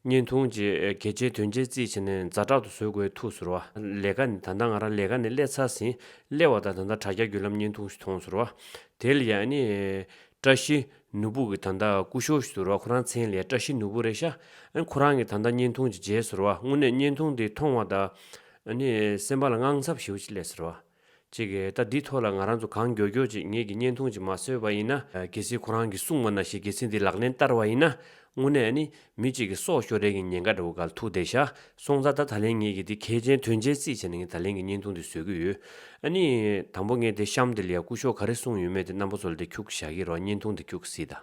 བརྙན་ཐུང་བཅས་གལ་ཆེའི་དོན་ཆེན་རྩིས་བྱས་ནས་རྫ་བྲག་ཏུ་བཟོས་དགོས་ཐུགས་ཟུར་བ། ལས་ཀ་ནི་ད་ལྟ་ང་རང་ལས་ཀ་ནས་སླེབས་ཚར་ཟིན། སླེབས་བ་དང་ད་ལྟ་དྲ་རྒྱ་བརྒྱུད་ལམ་བརྙན་ཐུང་ཞིག་མཐོང་ཟུར་བ། དེ་ལ་ཡང་ནི། བཀྲ་ཤིས་ནུ་བུག་གི་ད་ལྟ་སྐུ་ཞོ་ཞིག་ཟུར་བ་ཁོ་རང་མཚན་ལས་བཀྲ་ཤིས་ནུ་བུག་རེད་ཤག་ཨ། ཁོ་རང་གི་ད་ལྟ་བརྙན་ཐུང་ཅིག་མཇལ་ཟུར་བ་དངོས་གནས་བརྙན་ཐུང་དེ་མཐོང་བ་ད། ཨ་ནི་སེམས་པ་ལ་དངངས་འཚབ་ཞིག་ལས་ཟུར་བ། ཅིག་གིས་ད་འདི་ཐོག་ལ་ང་རང་ཚོ་གང་མགྱོགས་མགྱོགས་ཅིག་ངེད་ཀྱི་བརྙན་ཐུང་ཅིག་མ་བཟོས་པ་ཡིན་ན། གལ་སྲིད་ཁོ་རང་གིས་གསུངས་པ་ན་ཞིག་གལ་སྲིད་འདི་ལག་ལེན་བསྟར་བ་ཡིན་ན། དངོས་གནས་ཨ་ནི། མི་གཅིག་གིས་སྲོག་ཤོར་རན་གྱི་ཉེན་ཁ་འདྲ་བོ་གལ་ཐུག་བསྡད་ཤག་སོང་ད་ལྟ་ད་ལན་ངེད་ཀྱིས་འདི་གལ་ཆེན་དོན་ཆེན་རྩིས་བྱས་ན་ངས་ད་ལན་གྱི་བརྙན་ཐུང་འདི་བཟོས་ཀྱི་ཡོད། ཨ་ནི། དང་པོ་ངས་དེ་བཤམས་དེ་ལ་ཡ་སྐུ་ཞོག་ག་རེ་གསུངས་ཡོད་མེད་དེ་རྣམ་པ་ཚོ་ལ་དེ་འཁྱུག་བཞག་གི་རོགས་བརྙན་ཐུང་འདི་འཁྱུག་སྲིད་ད།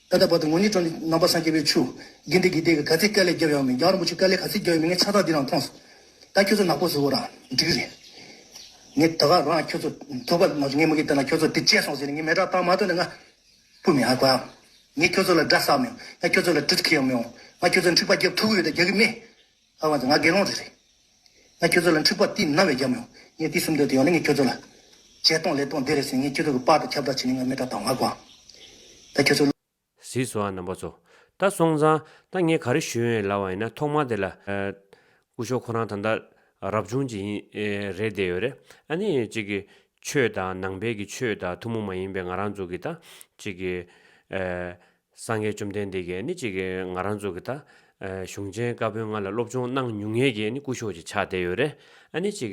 ད་ལྟ་བར་དུ་ངོ་གཉིས་སྤྲོ་འདི་རྣམ་པར་སངས་རྒྱས་པའི་ཆུ། དགེ་འདི་དགེ་དེ་གི་ག་ཚད་སྐལ་ལས་རྒྱབ་ཡོང་མི་རྒྱང་རིན་པོ་ཆེ་སྐལ་ལས་ག་ཚད་རྒྱབ་ཡོང་མི་ངས་ཆ་ཐག་འདི་རང་མཐོང་སོང། ད་ཁྱོད་ཚོ་ནག་པོ་བཟོ་བོ་རང་འགྲིག་རེད། ངས་ད་ག་རང་ཁྱོད་ཚོ་ཐུག་པ་ང་ཚོ་ངས་མུ་གེ་བསྟན་ན་ཁྱོད་ཚོ་འདི་སྤྱད་སོང་ཟེར་ནས་ངས་མེ་དྲག་བཏང་མ་ཐུབ་ན་ང་སྤུ་མི་ཧ་གོ་ཨང། ངས་ཁྱོད་ཚོ་ལ་དགྲ་བསགས་མི་ཡོང། ང་ཁྱོད་ཚོ་ལ་གྲི་ཁེ་ཡོང་མི་འོང། ང་ཁྱོད་ཚོ་འཁྲིག་པ་རྒྱབ་ཐུག་གི་ཡོད་ད་རྒྱག་གི་མེད། ལྷག་མ་དེ་ང་དགེ་སློང་རེད་རེད། ང་ཁྱོད་ཚོ་ལ་འཁྲིག་པ་རྟིས་ན་བས་རྒྱབ་མི་ཡོང། ངས་དུས་གསུམ་འདོད་དེ་ཡོང་ན་ངས་ཁྱོད་ཚོ་ལ། བྱས་གཏོང་ལས་གཏོང་བདེ་རེད་ཟེར་ངས་ཁྱོད་ཚོ་གི་པགས་དང་ཁྱབ་བདག་བྱས་ནས་ང་མི་དག་དང་མ་གོ་ཨང། ད་ཁྱོད་ཚོ། གཟིགས་སོ་ཨ་རྣམ་པ་ཚོ། ད་སོང་ཙང་ད་ངས་ག་རེ་ཞུ་ཡོན་ལ་བ་ཡིན་ན་ཐོག་མར་དེ་ལ། སྐུ་ཞོག་ཁོ་རང་ད་ལྟ་རབ་བྱུང་ཅིག་ཡིན་རེད་བསྡད་ཡོད་རེད་ཨ་ནི་ཅིག་གི། ཆོས་དང་ནང་པའི་གི་ཆོས་དང་ཐུ་མོ་མ་ཡིན་པའི་ང་རང་ཚོ་གི་ད་ཅིག་གི། སངས་རྒྱས་བཅོམ་ལྡན་འདས་ཀྱིས་ནི་ཅིག། ང་རང་ཚོ་གིས་ད། གཞུང་ཆེན་བཀའ་བོན་ལྔ་ལ་སློབ་སྦྱོང་གནང་མྱོང་ངེས་ཀྱི་ནི་སྐུ་ཞོགས་ཀྱི་ཕྱག་དེ་ཡོད་རེད། ཨ་ནི་ཅིག།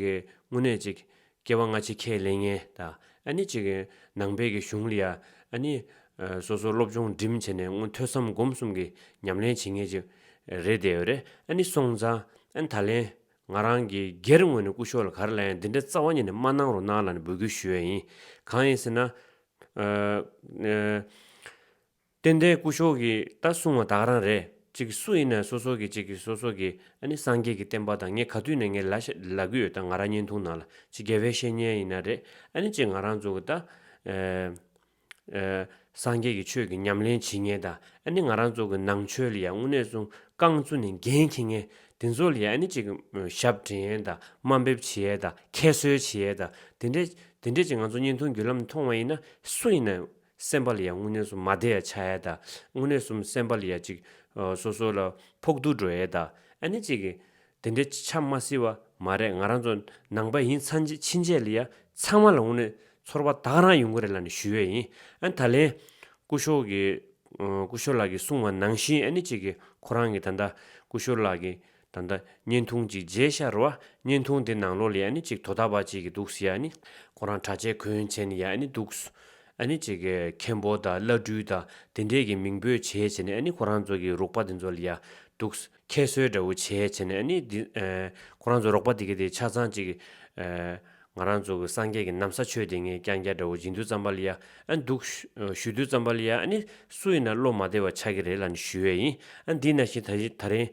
དངོས་གནས་ཅིག། སྐྱེ་བ་སྔ་ཕྱི་ཁས་ལེན་ངེས་ད། ཨ་ནི་ཅིག། ནང་པའི་གི་གཞུང་ལ་ཡ། ཨ་ནི། སོ་སོ་སློབ་སྦྱོང་འགྲིམ་བྱས་ནས་མངོན་ཐོས་སམ་སྒོམ་གསུམ་གྱི་ཉམས་ལེན་བྱེད་ངེས་ཅིག། རེད་དེ་ཡོད་རེད། ཨ་ནི་སོང་ཙང། ཨ་ནི་ད་ལན། ང་རང་གིས་སྒེར་ངོས་ནས་སྐུ་ཞོགས་ལ་ག་རེ་ལ་ཡང་འདི་འདྲ་རྩ་བ་ཉིད་ནས་མ་གནང་རོགས་གནང་ལ་ནི་འབོད་སྐུལ་ཞུ་ཡས་ཡིན། གང་ཡིན་ཟེར་ན། ཏན་ཏན་སྐུ་ཞོག་གི་ད་གསུང་བ་བདག་རང་རེད་ཅིག་སུ་ཡིན་ན་སོ་སོ་གི་ཅིག་གི་སོ་སོ་གི་ཨ་ནི་སངས་རྒྱས་ཀྱི་བསྟན་པ་དང་ངས་ག་དུས་ནས་ངའི་ལ་ཤ་ལ་གུ་ཡོད་ད་ང་ར་བརྙན་ཐུང་ནང་ལ་ཅིག་རྒྱལ་བའི་བཤེས་གཉེན་ཡིན་ན་རེད་ཨ་ནི་ཅིག་ང་རང་ཚོ་གི་ད་སངས་རྒྱས་ཀྱི་ཆོས་ཀྱི་ཉམས་ལེན་བྱེད་ངེས་ད་ཨ་ནི་ང་རང་ཚོ་གི་ནང་ཆོས་ལ་ཡ་དངོས་གནས་གསུང་རྐང་བཙུ་ནས་འགན་འཁྱེར་ངེས་དེ་ཚོ་ལ་ཡ་ཨ་ནི་ཅིག་ཞབས་འདྲེན་ཡས་ད་དམའ་འབེབས་བྱེད་ཡས་ད་ཁྱད་གསོད་བྱེད་ཡས་ད་དེ་འདྲས་དེ་འདྲས་ཀྱི་ང་ཚོ་བརྙན་ཐུང་བརྒྱུད་ལམ་ནས་མཐོང་བ་ཡིན་ན་སུ་ཡིན་ན་སེམས་པ་ལ་ཡང་དངོས་གནས་སུ་མ་བདེ་ཡ་ཆགས་ཡས་དང་དངོས་གནས་སུ་སེམས་པ་ལ་ཡ་ཅིག་སོ་སོ་ལ་ཕོག་ཐུག་འགྲོ་ཡས་དང་ཨ་ནི་ཅིག་དེ་འདྲས་ཆ་མ་སྲིད་བ་མ་རེད་ང་རང་ཚོ་ནང་པ་ཡིན་ཚང་གཅིག་ཕྱིན་ཆད་ལ་ཡ་ཚང་མ་ལ་དངོས་གནས་ཚོར་བ་དག་རང་ཡོང་གི་རེད་ལ་ནི་ཞུ་ཡས་ཡིན་ཨ་ད་ལན་སྐུ་ཞོག་གི་སྐུ་ཞོག་ལགས་ཀྱི་གསུང་བ་ནང་བཞིན་ཨ་ནི་ཅིག་ཁོ་རང་གི་ད་ད་སྐུ་ཞོག་ལགས་ཀྱི་ད་ལྟ་བརྙན་ཐུང་གཅིག་མཇལ་ཤར་བ་བརྙན་ཐུང་དེ་ནང་ལོག་ལས་ནི་གཅིག་དོ་ད་པ་ཅིག་གི་འདུག་ཡ་ནི་ཁོ་རང་གྲྭ་ཆས་གོན་ཆས་ནི་ཡ་ནི་འདུག་ཨ་ནི་གཅིག་མཁན་པོ་དང་བླ་སྤྲུལ་དང་དེ་འདྲས་ཀྱི་མིང་འབོད་བྱས་བྱས་ནས་ཨ་ནི་ཁོ་རང་ཚོ་གི་རོགས་པ་དེ་ཚོ་ལ་ཡ་འདུག་ཁྱད་གསོད་འདྲ་བོ་བྱས་བྱས་ནས་ཨ་ནི་འདི་ཁོ་རང་ཚོ་རོགས་པ་དེ་གི་དེ་ཆ་ཚང་ཅིག་ང་རང་ཚོ་གི་སངས་རྒྱས་ཀྱི་ནམ་ས་ཆོས་དེ་ངས་ཀྱང་ཀྱང་འདྲ་བོ་སྦྱིན་དུས་ཙམ་པ་ལ་ཡ་ཨ་འདུག་ཞུ་དུས་ཙམ་པ་ལ་ཡ་ཨ་ནི་སུ་ཡིན་ན་བློ་མ་བདེ་བ་ཆགས་ཀྱི་རེད་ལ་ནི་ཞུ་ཡ་ཡིན་ཨ་འདི་ན་བཞིན་ད་རིང་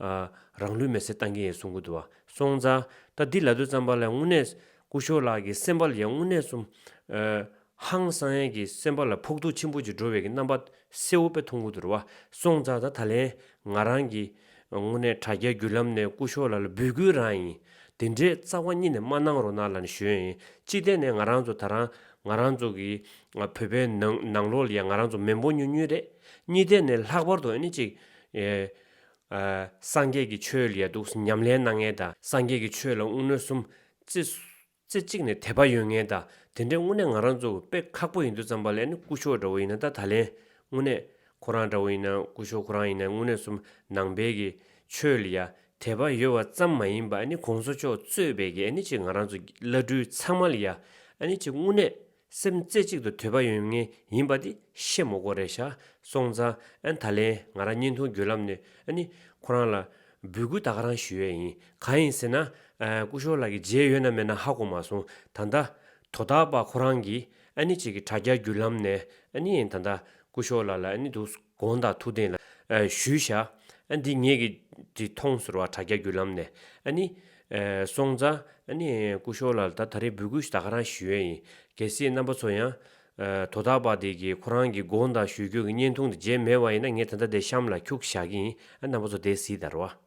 ཨ། རང་ལུས་མེ་སྲེག་བཏང་གིན་ཡོད་གསུང་གི་འདུག་བ། སོང་ཙང། ད་འདི་ལ་དོན་བརྩམས་པ་ལས་དངོས་གནས། སྐུ་ཞོར་ལགས་ཀྱི་སེམས་པ་ལ་ཡང་དངོས་གནས་སུ། ཧང་སང་ཡན་གྱི་སེམས་པ་ལ་ཕོག་ཐུག་ཆེན་པོ་ཅིག་འགྲོ་བའི་གྱི་རྣམ་པ་གསལ་བོ་པས་མཐོང་གི་འདུར་བ། སོང་ཙང་ད་ད་ལན། ང་རང་གིས། དངོས་གནས་དྲ་རྒྱ་བརྒྱུད་ལམ་ནས་སྐུ་ཞོར་ལགས་ལ་འབུལ་དགོས་རང་ཡིན། དེ་འདྲའི་རྩ་བ་རྙེད་ནས་མ་གནང་རོགས་གནང་ལ་ནི་ཞུ་ཡང་ཡིན། གཅིག་བལྟས་ནས་ང་རང་ཚོ་ད་རང། ང་རང་ཚོ་གི། བོད་པའི་ནང་ནང་ལོགས་ལ་ཡང་ང་རང་ཚོ་མེ་འབོ་ཉུང་ཉུང་རེད། གཉིས་བལྟས་ནས་ལྷག་པར་དུ་ཨ་ནི་གཅིག། སངས་རྒྱས་ཀྱི་ཆོས་ལ་ཡ་གདུགས་ཉམས་ལེན་གནང་ངེས་དང་སངས་རྒྱས་ཀྱི་ཆོས་ལ་དངུལ་སྣོད་གསུམ། རྩེ་གཅིག་ནས་དད་པ་ཡོད་ངེས་དང་དེ་འདྲའི་དངོས་གནས་ང་རང་ཚོ་དཔེ་ཁག་པོ་ཡིན་དུས་ཙམ་པ་ལས་ནི་སྐུ་ཞོག་འདྲ་བོ་ཡིན་ན་ད་ད་ལན་དངོས་གནས་ཁོ་རང་འདྲ་བོ་ཡིན་ན་སྐུ་ཞོག་ཁོ་རང་ཡིན་ན་དངོས་གནས་གསུམ་ནང་པའི་གི་ཆོས་ལ་ཡ་དད་པ་ཡོད་བ་ཙམ་མ་ཡིན་པ་ནི་གོང་ས་མཆོག་གཙོས་པའི་གི་ནི་ཅིག་ང་རང་ཚོ་བླ་སྤྲུལ་ཚང་མ་ལ་ཡ་ནི་ཅིག་དངོས་གནས་སེམས་རྩེ་གཅིག་ཏུ་དོད་པ་ཡོད་ངེས་ཡིན་པ་དེ་ཤེས་མོ་གོ་རེད་བཞག་སོང་ཙང་ད་ལན་ང་རང་བརྙན་ཐུང་བརྒྱུད་ལམ་ནས་ནི་ཁོ་རང་ལ་འབུལ་སྐུལ་ད་ག་རང་ཞུ་ཡས་ཡིན་གང་ཡིན་ཟེར་ན་སྐུ་ཞོར་ལགས་ཀྱི་མཇལ་ཡོད་ན་མེད་ན་ཧ་གོ་མ་སོང་ད་ལྟ་དོ་ད་པ་ཁོ་རང་གི་ནི་གཅིག་གི་དྲ་རྒྱ་བརྒྱུད་ལམ་ནས་ནི་ད་ལྟ་སྐུ་ཞོར་ལགས་ལ་ནི་འདུག་དགོངས་དག་ཐུགས་བསྟན་ལ། ཞུས་བྱ། འདི་ངེད་ཀྱི། དྲི་མཐོང་ཟུར་བ་དྲ་རྒྱ་བརྒྱུད་ལམ་ནས། ནི། སོང་ཙང། ནི། སྐུ་ཞོར་ལ་ད་ད་རིང་འབུལ་སྐུལ་ད་ག་རང་ཞུས་ཡས་ཡིན། གལ་སྲིད་རྣམ་པ་ཚོ་ཡང། དོ་བདག་པ་དེ་གིས་ཁོ་རང་གི་དགོངས་དག་ཞུས་རྒྱུ་གི་བརྙན་ཐུང་དེ་མཇལ་མེད་བ་ཡིན་ན་ངས་ད་ད་དེ་གཤམ་ལ་འཁྱུག་བཞག་གི་ཡིན་རྣམ་པ་ཚོ་དེ་གཟིགས་དར་བ།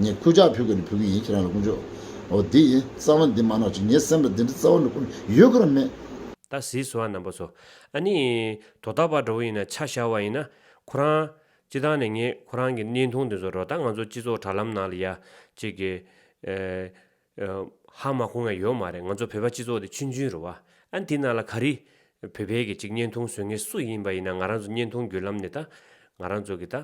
ངས་ཁུ་ཅག་ཕུལ་དགོས་ནི་ཕུལ་གྱི་ཡིན་ཁྱེད་རང་ལ་དཀོན་མཆོག་འོ་འདི་ཡིན་རྩ་བ་འདི་མ་ནག་ཅིག་ངའི་སེམས་ལ་འདི་འདྲའི་རྩ་བ་འདྲ་ཁུ་ཡོད་གི་རང་མེད། ད་གཟིགས་སོ་ཨ་རྣམ་པ་ཚོ། ཨ་ནི། དོ་བདག་པ་འདྲ་བོ་ཡིན་ན་ཆ་བཞག་བ་ཡིན་ན། ཁོ་རང། སྤྱི་ཐང་ནས་ངས་ཁོ་རང་གི་གནས་ཐུང་འདི་ཚོ་རོ་ད་ང་ཚོ་སྤྱི་ཚོགས་དྲ་ལམ་ནང་ལ་ཡ། ཅིག། ཧ་མ་གོ་ངས་ཡོད་མ་རེད་ང་ཚོ་བོད་པ་སྤྱི་ཚོགས་དེ་ཆུན་ཆུན་རུ་བ་ཨ་འདི་ན་ལ་ག་རི་བོད་བལ་གི་ཅིག་བརྙན་ཐུང་བཟོས་ངེས་སུ་ཡིན་པ་ཡིན་ན་ང་རང་ཚོ་བརྙན་ཐུང་བརྒྱུད་ལམ་ནས་ད་ང་རང་ཚོ་གི་ད་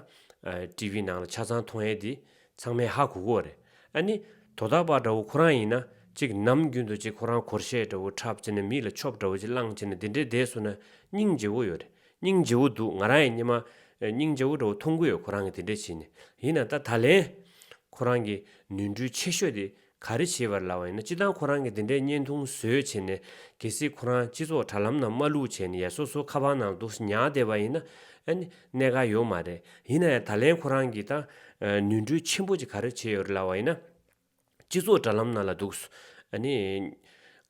ཏི་བི་ནང་ལ་ཆ་ཚང་མཐོང་ཡས་དེ་ཚང་མའི་ཧ་གོ་གོ་རེད་ཨ་ནི་དོ་ད་པ་འདྲ་བོ་ཁོ་རང་ཡིན་ན་ཅིག་ནམ་རྒྱུན་དུ་ཅིག་ཁོ་རང་གོར་ཤས་འདྲ་བོ་འཁྲབ་ཅེ་ན་མི་ལ་ཆོབ་འདྲ་བོ་ཅིག་བླངས་ཅེ་ན་དེ་འདྲའི་བསྡད་སུ་ན་སྙིང་རྗེ་བོ་ཡོད་རེད་སྙིང་རྗེ་བོ་འདུག་ང་རང་ཡི་སྙེ་མ། སྙིང་རྗེ་བོ་འདྲ་བོ་མཐོང་གི་ཡོད་ཁོ་རང་གི་དེ་འདྲ་བྱས་ནས་ཡིན་ན་ད་ད་ལན། ཁོ་རང་གི་ནུས་འགྲུས་ཆེ་ཤོས་དེ་ག་རེ་བྱེད་པར་ལ་བ་ཡིན་ན་ཅི་ལྟར་ཁོ་རང་གི་དེ་འདྲའི་བརྙན་ཐུང་བཟོས་བྱས་ནས་གལ་སྲིད་ཁོ་རང་སྤྱི་ཚོགས་དྲ་ལམ་ནང་མ་ལུག་བྱས་ནས་ཡ་སོ་སོ་ཁ་པར་ནང་དུ་ཉག་བསྡད་པ་ཡིན་ན་ཨ་ནི་གནད་ག་ཡོད་མ་རེད་ཡིན་ན་ཡང་ད་ལན་ཁོ་རང་གི་ད་ནུས་འགྲུས་ཆེན་པོ་ཅིག་ག་རེ་བྱས་ཡོད་རེད་ལ་བ་ཡིན་ན། སྤྱི་ཚོགས་དྲ་ལམ་ནང་ལ་འདུག།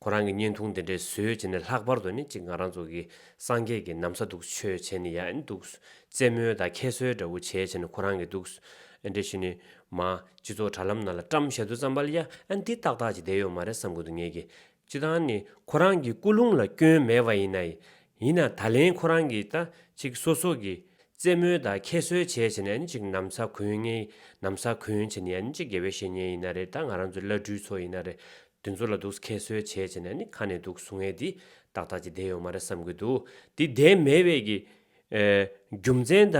ཁོ་རང་གི་བརྙན་ཐུང་དེ་འདྲས་བཟོས་བྱས་ནས་ལྷག་པར་དུ་ནི་ཅིག་ང་རང་ཚོ་གི་སངས་རྒྱས་ཀྱི་ནམ་ས་འདུག་ཆོས་བྱས་ནི་ཡང་འདུག། རྩེད་མོ་དང་ཁྱད་གསོད་འདྲ་བོ་བྱས་བྱས་ནས་ཁོ་རང་གི་འདུག། འདྲས་བྱས་ནི། མ། སྤྱི་ཚོགས་དྲ་ལམ་ནང་ལ་བཀྲམ་བཞེད་དུ་བརྩམས་པ་ལ་ཡ། འདི་ཏག་ཏག་ཅིག་བསྡད་ཡོད་མ་རེད་བསམ་དགོས་འདུག་ངེད་ཀྱི། སྤྱི་དང་ནི་ཁོ་རང་གི་སྐུ་རླུང་ལ་སྐྱོན་མེད་པ་ཡིན་ནའི། ཡིན་ན་ད་ལན་ཁོ་རང་གིས་ད་ཅིག་སོ་སོ་གིས་རྩེད་མོའི་ད་ཁྱད་གསོད་བྱས་བྱས་ནས་ཨ་ནི་ཅིག་ནམ་ས་གོན་ངེས་ནམ་ས་གོན་བྱས་ནས་ཨ་ནི་ཅིག་དགེ་བའི་བཤེས་གཉེན་ཡིན་ན་རེད་ད་ང་རང་ཚོའི་བླ་སྤྲུལ་ཚོ་ཡིན་ན་རེད་དེ་ཚོ་ལ་འདུག་ཁྱད་གསོད་བྱས་བྱས་ནས་ཨ་ནི་ཁ་ནས་འདུག་ཟུང་ངེས་འདི་ཏག་ཏག་ཅིག་བསྡད་ཡོད་མ་རེད་བསམ་གི་འདུག་འདི་བསྡད་མེད་བས་ཀྱི། རྒྱུ་མཚན་ད་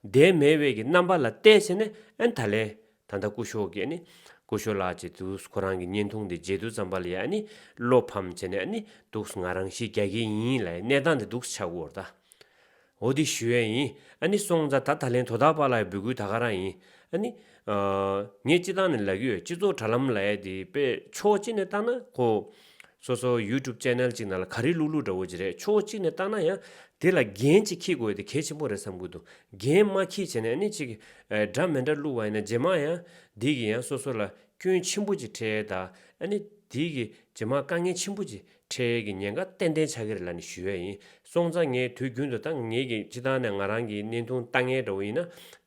བསྡད་མེད་བས་ཀྱི་རྣམ་པ་ལ་བལྟས་བྱས་ནས་ཨ་ནི་ད་ལན་ད་ལྟ་སྐུ་ཞོགས་ཀྱིས་ནི། སྐུ་ཞོགས་ལགས་ཀྱིས་དུ་ཁོ་རང་གི་བརྙན་ཐུང་འདི་མཇལ་དུ་བརྩམས་པ་ལ་ཡ་ནི་བློ་ཕམ་བྱས་ནས་ནི་འདུག་ང་རང་ཤི་རྒྱག་གི་ཡིན་ལ་ཡ་གནས་སྟངས་འདི་འདུག་ཆག་གུར་ད་འོ་དེ་ཞུ་ཡ་ཡིན་ཨ་ནི་སོང་ཙ་ད་ད་ལན་དོ་ད་པ་ལ་ཡ་འབུལ་ཁུལ་ད་ག་རང་ཡིན་ཨ་ནི། ངས་སྤྱི་བཏང་ནས་ལག་ཡོད་སྤྱི་ཚོགས་དྲ་ལམ་ལ་ཡ་དེ་དཔེ་ཕྱོགས་གཅིག་ནས་བཏང་ན་ཁོ། སོ་སོ YouTube Channel ཅིག་ནང་ལ་ག་རེ་ལུག་ལུག་འདྲ་བོ་ཅིག་རེད་ཆུང་ངུ་གཅིག་ནས་བཏང་ན་ཡང་དེ་ལ་འགན་ཅིག་འཁྱིས་དགོས་ཡོད་དེ་གལ་ཆེན་པོ་རེད་བསམ་གི་འདུག་འགན་མ་འཁྱིས་བྱས་ནས་ནི་ཅིག་འདྲ་མི་འདྲ་བླུག་བ་ཡིན་ན་ཇེ་མང་ཡང་དེ་གིས་ཡང་སོ་སོ་ལ་སྐྱོན་ཆེན་པོ་ཅིག་འཕྲད་ད་ཨ་ནི་དེ་གིས་ཇེ་མང་དཀའ་ངལ་ཆེན་པོ་ཅིག་འཕྲད་གི་ཉེན་ཁ་ཏན་ཏན་ཆགས་གི་རེད་ལ་ནི་ཞུ་ཡ་ཡིན་སོང་ཙང་ངས་དུས་རྒྱུན་དུ་ད་ངེད་ཀྱི་སྤྱི་བཏང་ནས་ང་རང་གི་གནས་ཐུང་ལྟ་ངན་འདྲ་བོ་ཡིན་ན་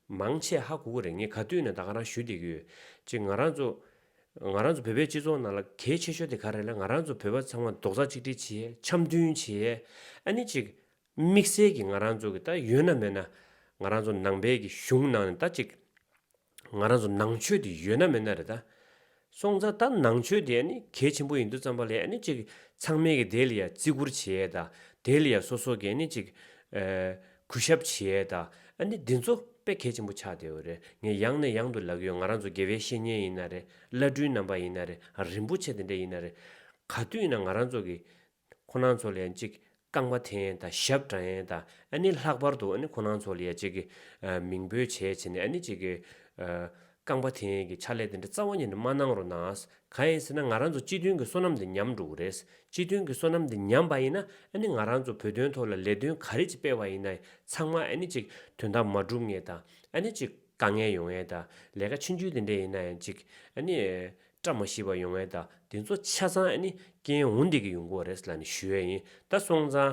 མང་ཆེ་ཧ་གོ་གི་རེད་ངས་ག་དུས་ནས་ད་ག་རང་ཞུ་བསྡད་ཀྱི་ཡོད་ཅིག་ང་རང་ཚོ། ང་རང་ཚོ་བོད་པའི་སྤྱི་ཚོགས་ནང་ལ་གལ་ཆེ་ཤོས་དེ་ག་རེད་ལ་ང་རང་ཚོ་བོད་པ་ཚང་མ་རྡོག་རྩ་གཅིག་སྒྲིལ་བྱས་འཆམ་མཐུན་བྱས་ཨ་ནི་ཅིག་དམིགས་བསལ་གྱི་ང་རང་ཚོ་གི་ད་ཡོད་ན་མེད་ན་ང་རང་ཚོ་ནང་པའི་གི་གཞུང་ནང་ནས་ད་ཅིག་ང་རང་ཚོ་ནང་ཆོས་དེ་ཡོད་ན་མེད་ན་རེད་ད་སོང་ཙང་ད་ནང་ཆོས་དེ་ཨ་ནི་གལ་ཆེན་པོ་ཡིན་འདུག་བསམ་པ་ལས་ཨ་ནི་ཅིག་ཚང་མའི་གི་དེ་ལ་ཡང་བརྩི་བཀུར་བྱས་ད་དེ་ལ་ཡང་སོ་སོ་གི་ཨ་ནི་ཅིག་གུས་ཞབས་བྱེད་ཨེ་ད། ཨ་ནི་འདི་ཚོ་དཔེ་གལ་ཆེན་པོ་ཆགས་བསྡད་ཡོད་རེད་ངས་ཡང་ནས་ཡང་དུ་ལབ་ཡོད་ང་རང་ཚོ་དགེ་བའི་བཤེས་གཉེན་ཡིན་ན་རེད་བླ་སྤྲུལ་རྣམ་པ་ཡིན་ན་རེད་རིན་པོ་ཆེ་དེ་འདྲ་ཡིན་ན་རེད། ག་དུས་ཡིན་ན་ང་རང་ཚོ་གི། ཁོ་ནང་ཚོ་ལ་ཡང་ཅིག་རྐང་པ་འཐེན་ཨེ་ད་ཞབས་བཀྲ་ཨེ་ད། ཨ་ནི་ལྷག་པར་དུ་ཨ་ནི་ཁོ་ནང་ཚོ་ལ་ཡང་ཅིག་གི། མིང་འབོད་བྱས་བྱས་ནས་ཨ་ནི་ཅིག་གི། རྐང་པ་དེ་གི་ཕྱག་ལས་དེ་འདྲ་རྩ་བ་ཉིད་ནས་མ་གནང་རོགས་གནང། གང་ཡིན་ཟེར་ན་ང་རང་ཚོ་སྤྱི་མཐུན་གྱི་བསོད་ནམས་དེ་ཉམས་འགྲོ་གི་རེད། སྤྱི་མཐུན་གྱི་བསོད་ནམས་དེ་ཉམས་པ་ཡིན་ན་ཨ་ནི་ང་རང་ཚོ་བོད་དོན་ཐོག་ལ་ལས་དོན་ག་རེ་ཅིག་སྤེལ་བ་ཡིན་ན་ཚང་མ་ཨ་ནི་ཅིག་དོན་དག་མ་འགྲུབ་ངེས་དང་ཨ་ནི་ཅིག་དཀའ་ངལ་ཡོང་ངེས་དང་ལས་ཀ་ཕྱི་འཇུས་དེ་འདྲས་ཡིན་ན་ཡང་ཅིག་ཨ་ནི་བཀྲ་མ་ཤིས་པ་ཡོང་ངེས་དང་དེ་ཚོ་ཆ་ཚང་ཨ་ནི་རྐྱེན་འོང་བསྡད་ཀྱི་ཡོང་གི་བ་རེད་ལ་ནི་ཞུ་ཡས་ཡིན་ད་སོང་ཙང།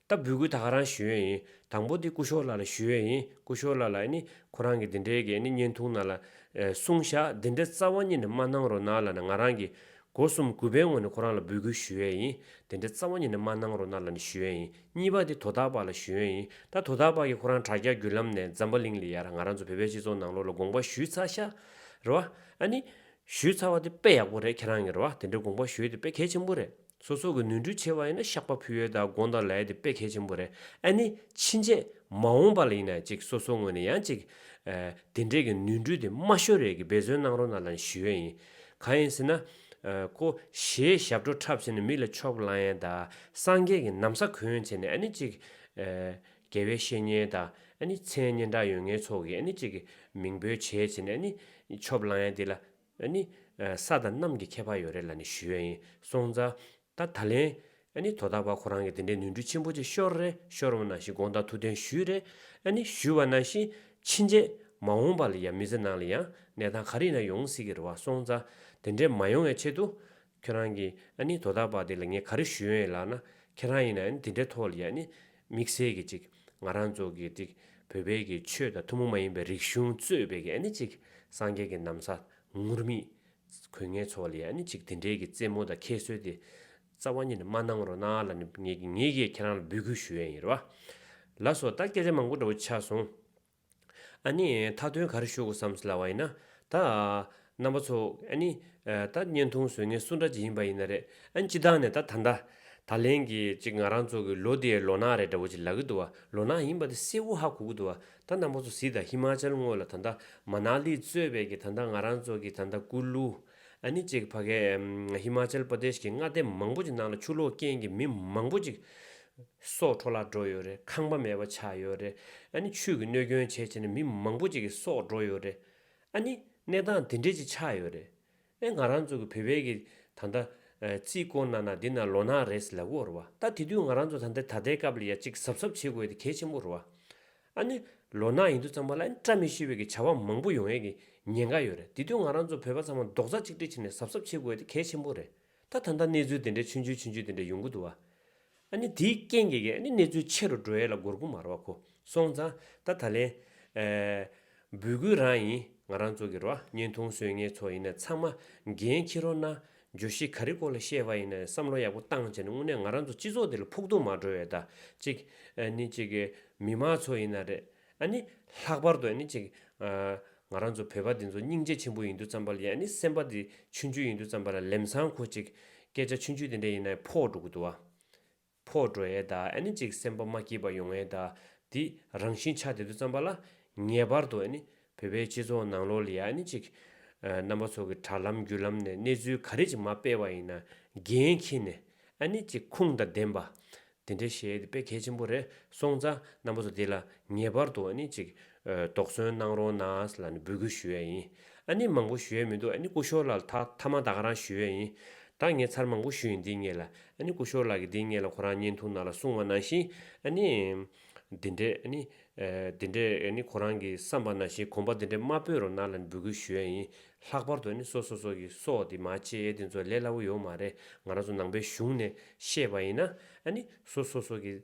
ལྟ་བུའི་གུས་དག་རང་ཞུ་ཡོན་ཡིན་དང་པོ་དེ་སྐུ་ཞོར་ལ་ལ་ཞུ་ཡོན་ཡིན་སྐུ་ཞོར་ལ་ལ་ནི་ཁོ་རང་གི་དེ་འདྲའི་གས་ནི་བརྙན་ཐུང་ན་ལ་གསུངས་བཞག་དེ་འདྲའི་རྩ་བ་ཉིད་ནས་མ་གནང་རོགས་གནང་ལ་ནི་ང་རང་གི་སྒོ་གསུམ་གུས་པའི་ངོ་ནས་ཁོ་རང་ལ་འབུལ་གུས་ཞུ་ཡོན་ཡིན་དེ་འདྲའི་རྩ་བ་ཉིད་ནས་མ་གནང་རོགས་གནང་ལ་ནི་ཞུ་ཡོན་ཡིན་གཉིས་པ་དེ་དོ་བདག་པ་ལ་ཞུ་ཡོན་ཡིན་ད་དོ་བདག་པ་གིས་ཁོ་རང་དྲ་རྒྱ་བརྒྱུད་ལམ་ནས་འཛམ་བུ་གླིང་ལ་ཡར་ང་རང་ཚོ་བོད་པའི་སྤྱི་ཚོགས་ནང་ལོགས་ལ་དགོངས་པ་ཞུས་ཚར་བཞག་རེད་བ་ཨ་ནི་ཞུས་ཚར་བ་དེ་དཔེ་ཡག་པོ་རེད་ཁྱེད་རང་གིས་རེད་བ་དེ་འདྲའི་དགོངས་པ་ཞུས་དེ་དཔེ་གལ་ཆེན་པོ་རེད། ཚོ་སོགས་ཀྱི་ནུས་འཁྲུལ་ཆེ་བ་ཡིན་ན་ཤག་པ་ཕུལ་ཡོད་དང་དགོངས་དག་ལ་ཡོད་དེ་དཔེ་གལ་ཆེན་པོ་རེད་ཨ་ནི་ཕྱིན་ཆད་མ་འོངས་པ་ལ་ཡིན་ན་ཅིག་སོ་སོ་ངོས་ནས་ཡང་ཅིག་དེ་འདྲས་ཀྱི་ནུས་འཁྲུལ་དེ་དམའ་ཤོས་རེད་ཀྱི་འབད་བརྩོན་གནང་རོགས་གནང་ལ་ནི་ཞུ་ཡས་ཡིན་གང་ཡིན་ཟེར་ན་ཀོ་ཞེས་ཞབས་བྲོ་འཁྲབ་བྱས་ནས་མི་ལ་ཕྱོགས་བླང་ཡས་དང་སངས་རྒྱས་ཀྱི་ནམ་ས་གོན་ཡས་བྱས་ནས་ཨ་ནི་ཅིག་རྒྱལ་བའི་བཤེས་གཉེན་དང་ཨ་ནི་མཚན་སྙན་གྲགས་ཡོད་ངན་ཚོགས་ཀྱི་ཨ་ནི་ཅིག་མིང་འབོད་བྱས་བྱས་ནས་ཨ་ནི་ཕྱོགས་བླང་ཡས་དེ་ལ་ནི། ས་དང་གནམ་གྱི་ཁྱད་པར་ཡོད་རེད་ལ་ནི་ཞུས་ཡིན་སོང་ཙང། ད་ད་ལན། ནི་དོ་བདག་པ་ཁོ་རང་གིས་དེ་འདྲའི་ནུས་འབྲུ་ཆེན་པོ་ཅིག་ཤོར་རེད་ཤོར་འོང་ན་ཞེས་དགོངས་དག་ཐུགས་བདེན་ཞུས་རེད། ནི་ཞུས་བ་ན་བཞིན་ཕྱིན་རྗེས་མ་འོངས་པ་ལ་ཡང་མི་ཚེ་ནང་ལ་ཡང་གནས་སྟངས་ག་རེ་ཡིན་ན་ཡོང་སྲིད་ཀྱི་རེད་བ་སོང་ཙང་དེ་འདྲའི་མ་ཡོང་བའི་ཆེད་དུ། ཁྱོད་རང་གིས་ཨ་ནི་དོ་བདག་པ་དེ་ལ་ངས་ག་རེ་ཞུས་ཡོད་ཡིན་ལགས་ན། ཁྱེད་རང་ཡིན་ན་འདི་འདྲའི་ཐོག་ལ་ཡ་ནི་དམིགས་བསལ་གྱི་ཅིག་ང་རང་ཚོ་གི་ཅིག་བོད་པའི་གི་ཆོས་དང་ཐུན་མོང་མ་ཡིན་པའི་རིག་གཞུང་གཙོས་པའི་གི་ཨ་ནི་ཅིག་སངས་རྒྱས་ཀྱི་ནམ་ས་ངུར་སྨྲིག་གོས་ངན་ཚོ་ལ་ཡ་ནི་ཅིག་དེ་འདྲའི་གི་རྩེད་མོ་དང་ཁྱད་གསོད་དེ་རྩ་བ་ཉིད་ནས་མ་གནང་རོགས་གནང་ལ་ནི་ངས་ངས་ཀྱིས་ཁྱེད་རང་ལ་འབོད་སྐུལ་ཞུ་ཡ་ཡིན་རེད་བ། ལ་སོགས་ད་སྐད་ཆ་མང་པོ་འདྲ་བོ་ཆགས་སོང། ཨཱ་ནི། མཐའ་དོན་གར་ཞུགས་བསམ་ཟླ་བ་ཡིན་ན། ད། རྣམ་པ་ཚོ། ཨཱ་ནི། ད་བརྙན་ཐུང་བཟོས་ངན་སུ་འདྲ་ཅིག་ཡིན་པ་ཡིན་ན་རེད། ཨཱ་སྤྱི་བཏང་ནས་ད་ད་འདྲ། ད་ལན་གྱི་ཅིག་ང་རང་ཚོ་གི་ལོ་དེའི་ལོ་ནག་རེད་འདྲ་བོ་ཅིག་ལབ་གི་འདུག་བ་ལོ་ནག་ཡིན་པ་དེ་སེ་འུ་ཧ་གོ་གི་འདུག་བ་ད་རྣམ་པ་ཚོ་གཟིགས་ད་ཧི་མཱ་ཅལ་དངོས་ལ་ད་ད་མཱ་ནཱ་ལི་གཙོས་པའི་གི་ད་ད་ང་རང་ཚོ་གི་ད་ད་ཀུ་ལུ། ཨ་ནི་ཅིག་བྷ་གའི། Himachal Pradesh། གི་མངའ་སྡེ་མང་པོ་ཅིག་ནང་ལ་ཆུ་ལོག་རྐྱེན་གྱིས་མི་མང་པོ་ཅིག་སྲོག་འཕྲོ་བརླག་འགྲོ་ཡོད་རེད་ཁང་པ་མེད་པ་ཆགས་ཡོད་རེད་ཨ་ནི་ཆུས་ཀྱི་གནོད་སྐྱོན་ཇེ་ཆེ་ནས་མི་མང་པོ་ཅིག་གི་སྲོག་འགྲོ་ཡོད་རེད་ཨ་ནི་གནས་སྟངས་དེ་འདྲས་ཅིག་ཆགས་ཡོད་རེད་ཨེ་ང་རང་ཚོ་གི་བོད་པའི་གི་ད་ལྟ་རྩིས་སྐོར་ན་ན་འདི་ན་ལོ་ན་རེས་ལ་བོར་བ་ད་དེ་དུས་ང་རང་ཚོ་ད་ལྟ་ད་ལྟའི་སྐབས་ལ་ཡ་གཅིག་གཟབ་གཟབ་བྱེད་དགོས་དེ་གལ་ཆེན་པོ་རེད་བ། ཨ་ནི། ལོ་ན་ཡིན་དུས་ཚང་མ་ལ་ཨེ་བཀྲ་མི་ཤིས་བོད་ཀྱི་བྱ་བ་མང་པོ་ཡོང་ཡས་ཀྱི་ཉེན་ཁ་ཡོད་རེད་དེ་དུས་ང་རང་ཚོ་བོད་པ་ཚང་མ་རྡོག་རྩ་གཅིག་སྒྲིལ་བྱས་ནས་གཟབ་གཟབ་བྱེད་དགོས་ཡས་དེ་གལ་ཆེན་པོ་རེད་ད་ད་ལྟ་གནས་ཚུལ་དེ་འདྲའི་ཆུན་ཆུན་ཆུན་ཆུན་དེ་འདྲ་ཡོང་གི་འདུག་བ། ཨ་ནི་དེའི་རྐྱེན་གྱིས་ཨ་ནི་གནས་ཚུལ་ཆེ་རུ་འགྲོ་ཡས་ལ་གོར་ཁུ་མར་བ་ཁུ་སོང་ཙང་ད་ད་ལན། འབུལ་དགོས་རང་ཡིན་ང་རང་ཚོ་གི་རོ་བརྙན་ཐུང་བཟོས་ངེས་ཚོ་ཡིན་ནས་ཚང་མ་འགན་འཁྱེར་རོགས་གནང་བརྗོད་གཞི་ག་རེ་སྐོར་ལ་བཤད་པ་ཡིན་ན་བསམ་བློ་ཡག་པོ་བཏང་བྱས་ནས་དངོས་གནས་ང་རང་ཚོ་སྤྱི་ཚོགས་འདི་ལ་ཕུགས་རྡུང་མ་བགྲོད་ཡོད་ད། ཅིག། ཨ་ནི་ཅིག། མི་དམངས་ཚོ་ཡིན་ན་རེད། ཨ་ནི། ལྷག་པར་དུ་ཨ་ནི་ཅིག། ང་རང་ཚོ་བོད་པ་འདི་ཚོ་སྙིང་རྗེ་ཆེན་པོ་ཡིན་དུས་ཙམ་པ་ལ་ཡང་ཨ་ནི་སེམས་པ་འདི་ཆུན་ཆུན་ཡིན་དུས་ཙམ་པ་ལ་ལེམས་སང་ཁོ་ཅིག། སྐད་ཆ་ཆུན་ཆུན་དེ་འདྲ་ཡིན་ན་ཡང་ཕོག་འགྲོ་གི་འདུག་བ། ཕོག་འགྲོ་ཨེ་ད་ཨེ་ནི་ཅིག་སེམས་པ་མ་སྐྱིད་པ་ཡོང་ཨེ་ད་དེ་རང་བཞིན་ཆ་དེ་ཚོ་བརྩམས་པ་ལ་ངེས་པར་དུ་ཨེ་ནི་བོད་པའི་སྤྱི་ཚོགས་ནང་ལོ་ལེགས་ཨེ་ནི་ཅིག་རྣམ་པ་ཚོ་གི་དྲ་ལམ་བརྒྱུད་ལམ་ནས་གནས་ཚུལ་ག་རེ་ཅིག་མ་སྤེལ་བ་ཡིན་ན་འགན་འཁྱེར་ནས་ཨེ་ནི་ཅིག་ཁུངས་དང་ལྡན་པ་དེ་འདྲ་བཤད་དེ་དཔེ་གལ་ཆེན་པོ་རེད་སོང་ཙང་རྣམ་པ་ཚོ་དེ་ལ་ངེས་པར་དུ་ཨེ་ནི་ཅིག་དོགས་ཟོན་གནང་རོགས་གནང་ལ་ནི་འབོད་སྐུལ་ཞུ་ཡས་ཡིན་ཨ་ནི་མང་པོ་ཞུ་ཡས་མི་འདུག་ཨ་ནི་སྐུ་ཤོར་ལགས་ད་ཐ་མ་ད་ག་རང་ཞུ་ཡས་ཡིན་ད་ངས་ཚར་མང་པོ་ཞུ་ཡིན་འདི་ངས་ལ་ཨ་ནི་སྐུ་ཤོར་ལགས་ཀྱི་འདི་ངས་ལ་ཁོ་རང་བརྙན་ཐུང་ནང་ལ་གསུང་བ་ནང་བཞིན་ཨ་ནི་འདི་འདྲས་ཨ་ནི་འདི་འདྲས་ཨ་ནི་ཁོ་རང་གི་བསམ་པ་ནང་བཞིན་གོམ་པ་འདི་འདྲས་མ་སྤོས་རོགས་གནང་ལ་ནི་འབོད་སྐུལ་ཞུ་ཡས་ཡིན་ལྷག་པར་དུ་ཨ་ནི་སོ་སོ་སོ་གི་སོགས་དེ་མ་བྱེད་ཡས་དེ་ཚོ་ལས་སླ་བོ་ཡོད་མ་རེད་ང་རང་ཚོ་ནང་པའི་གཞུང་ནས་བཤད་པ་ཡིན་ན་ཨ་ནི་སོ་སོ་སོ་གི།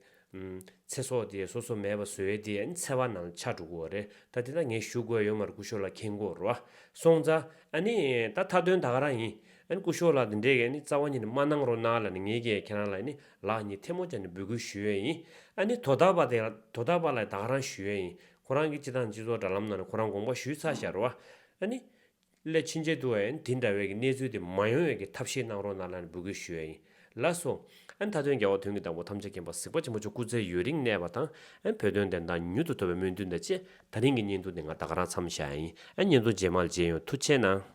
ཚེ་སྲོག་དེ་སོ་སོ་མེད་པ་བཟོས་ཏེ་འཚེ་བ་ནང་ཆ་འགྲོ་གོ་རེད་ད་དེ་ད་ངས་ཞུ་དགོས་ཡོད་མར་ཀུ་ཤོ་ལ་ཁེང་གོ་རོ་སོང་ཙ་ཨ་ནི་ད་མཐའ་དོན་ད་ག་རང་ཡིན་ཨ་ནི་ཀུ་ཤོ་ལ་དེ་འདྲས་གས་ནི་རྩ་བ་ཉིད་ནི་མ་གནང་རོགས་གནང་ལ་ནི་ངས་ཀས་ཁྱེད་རང་ལ་ནི་ལག་གཉིས་ཐལ་མོ་སྦྱར་ནི་འབོད་སྐུལ་ཞུ་ཡོད་ཡིན་ཨ་ནི་དོ་ད་པ་དེ་དོ་ད་པ་ལ་ད་ག་རང་ཞུ་ཡོད་ཡིན་ཁོ་རང་གིས་སྤྱི་དང་སྤྱི་ཚོགས་དྲ་ལམ་ནང་ནི་ཁོ་རང་དགོངས་པ་ཞུས་ཚར་ཤག་རོ་ཨ་ནི་སླད་ཕྱིན་ཆད་དུ་ཨན་དེ་འདྲ་བའི་གི་གནས་ཚུལ་དེ་མ་ཡོང་བའི་གི་ཐབས་ཤེས་གནང་རོགས་གནང་ལ་ནི་འབུལ་དགོས་ཞུ་ཡ་ཡིན། ལ་སོ། ཨན་ད་དོན་རྒྱ་བོ་དོན་གི་བདག་པོ་ཐམས་ཅད་མཁྱེན་པ་གཟིགས་པ་ཆེན་པོ་མཆོག་སྐུ་ཚེ་ཡོད་རིང་གནས་པ་དང་ཨན་བོད་དོན་བདེན་མཐའ་མྱུར་དུ་ཐོབ་པའི་སྨོན་འདུན་དང་བཅས་ད་རིང་གི་བརྙན་ཐུང་འདི་ང་ད་ག་རང་འཚམས་བཞག་ཡ་ཡིན་ཨན་བརྙན་ཐུང་རྗེས་མ་ལ་མཇལ་ཡོང་ཐུགས་ཆེ་གནང།